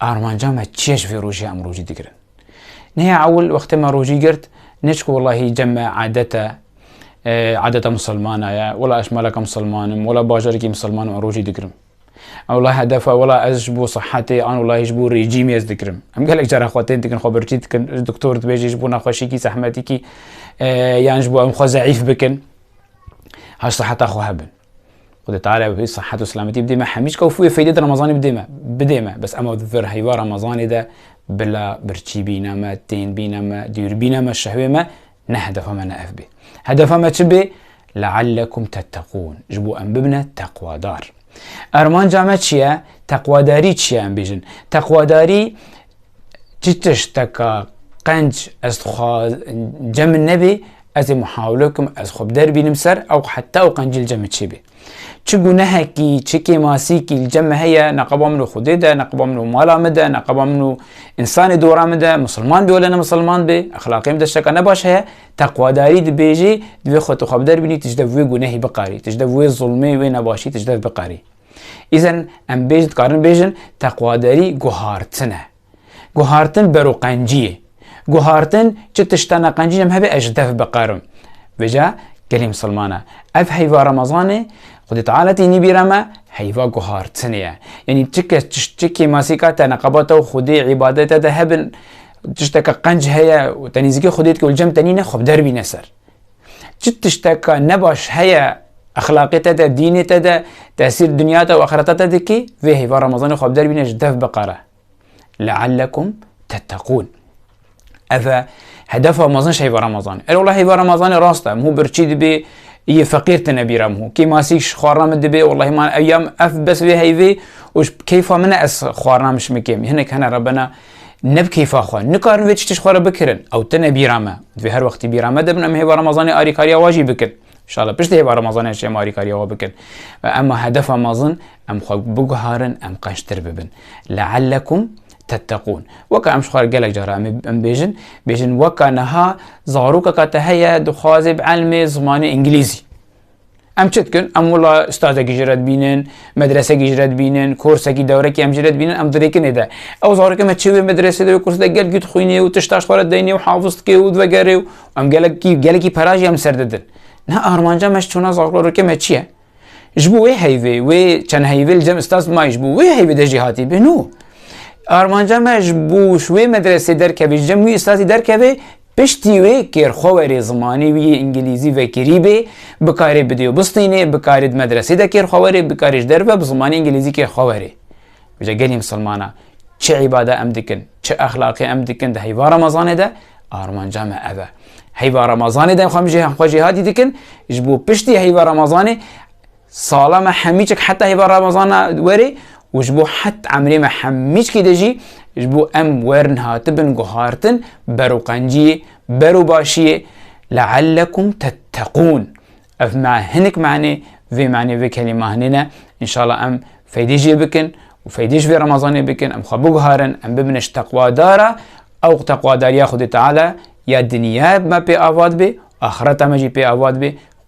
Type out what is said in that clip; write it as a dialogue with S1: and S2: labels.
S1: Armanca me çiye ji vê rojê em rojî digirin? Nihê ewil wextê me rojî girt, ne çku welahî cem me adet e, adeta misilmana ye, wela ez maleka misilman im, wela bajarekî misilman im rojî digirim. Em wela hedef e, wela ez ji bo sihetê an welahî ji bo rejîmê ez digirim. Em gelek cara xwe tên dikin, xwe birçî dikin, ji doktor dibêjin ji bo nexweşiyekî zehmetekî yan ji bo em xwe zeîf bikin, ha siheta xwe hebin. Xwedê teala wî sehet û selametî bidê me hemî çka û fûyê feydê di remezanê bidê me bidê me bes ema di vir heyva remezanê de bila birçî bîne me tên bîne me dûr bîne me şehwê me ne hedefa me ne ev bê hedefa me çi bê leallekum tetteqûn ji bo em bibine teqwadar ermanca me çi ye teqwadarî çi ye em bêjin teqwadarî Çi tişteka qenc ez dixwaz cem min nebê ez ê muhawile bikim ez xwe bi der bînim ser ew heta ew qencî li cem min çêbê. Çi gunehekî, çi kêmasîkî li cem min heye neqeba min û Xwedê de, neqeba min û mala min de, neqeba min û însanê dora min de, misilman bê wele ne misilman bê, exlaqê min de tişteka nebaş heye, teqwadarî dibêjê divê xwe tu xwe bi der bînî tu ji dev wê gunehî biqarî, tu ji dev wê zilmê, wê nebaşî tu ji dev biqarî. Îzen em bêj dikarin bêjin teqwaderî guhartin e. Guhartin bero qenciyê. Guhartin çi tişta ne qencî em hebe ez ji dev biqerim. Vêca gelê misilman e. Ev heyva Ramazanê Xwedê Teala tî nîbîra me heyva guhartinê ye. Yanî çi kes çi kêmasîka te neqebata û Xwedê îbadete de hebin tişteke qenc heye û te nîzikê Xwedê dike û li cem te nîne xwe bi der bîne ser. Çi tişteka nebaş heye exlaqê te de, dînê te de, tesîr dinya te û axireta te dikê, vê hêva Remezanê xwe bi der bîne ji dev biqere. Leellekum tetteqûn. Ev e hedefa mezin ji hêva Remezanê. Erê wela hêva Remezanê rast e, mû birçî dibê yê feqîr tine bîra mû. Kê masî ji xwarina min dibê, welahi man ev ya ev bes vê heyvê û ji keyfa min e ez xwarina min şimikêm. Hinek hene re bina Ne bi keyfa xwe. Nikarin vê tiştî ji xwe re bikirin. Ew tune bîra me. Divê her wextî bîra me de bin. Em hêva Remezanê arîkariya wa jî bikin. Şala pişt hêva Remezanê jî em arîkariya wa bikin. Ve ema hedefa mezin em xwe biguharin, em qeştir bibin. Leellekum tetteqûn. Weka em ji xwe re gelek cara em em bêjin, bêjin weka niha zarokeka te heye dixwaze bi elmê zimanê îngilîzî. Em çi dikin? Em wila stadekî ji re dibînin, medresekî ji re dibînin, korsekî dewrekî em ji re dibînin, em dirêkinê de. Ew zarokê me çi wê medresê de wê kursê de gel gît xwînê û tişt taş xwara deynê û hafiz dike û divegere û em gelekî gelekî para jî em ser didin. Niha armanca me ji çûna zarokê me çi ye? Ji bo wê heyvê, wê çend heyvê li cem stad mayî ji bo wê heyvê de jî hatî bêno. Armanca me ji bo ji wê medresê derkevê, ji cem wî stadî derkevê Piştî wê kêrxwewerê zimanê wî yê îngilîzî vekirî bê, bikarê bi dêw bistînê, bikarê di medresê de kêrxwewerê, bikarê ji derve bi zimanê îngilîzî kêrxwewerê. Îja gelê misilmana çi îbada em dikin, çi exlaqê em dikin di heyva remezanê de armanca me ev e. Heyva remezanê de em xwe jêhatî dikin, ji bo piştî heyva remezanê, Sala me hemîçik heta hêva Ramazana werê û ji bo het emrê me hemîçkî de jî ji bo em werin hatibin guhartin bero qenciyê, bero başiyê leellekum tetteqûn. Ev me hinik manê vê manê vê kelîma hinê ne. İnşallah em feydê jê bikin û feydê ji vê Ramazanê bikin, em xwe biguharin, em bibine ji teqwadara ew teqwadariya Xwedê Teala ya dinya me pê avad bê, axireta me jî pê avad bê.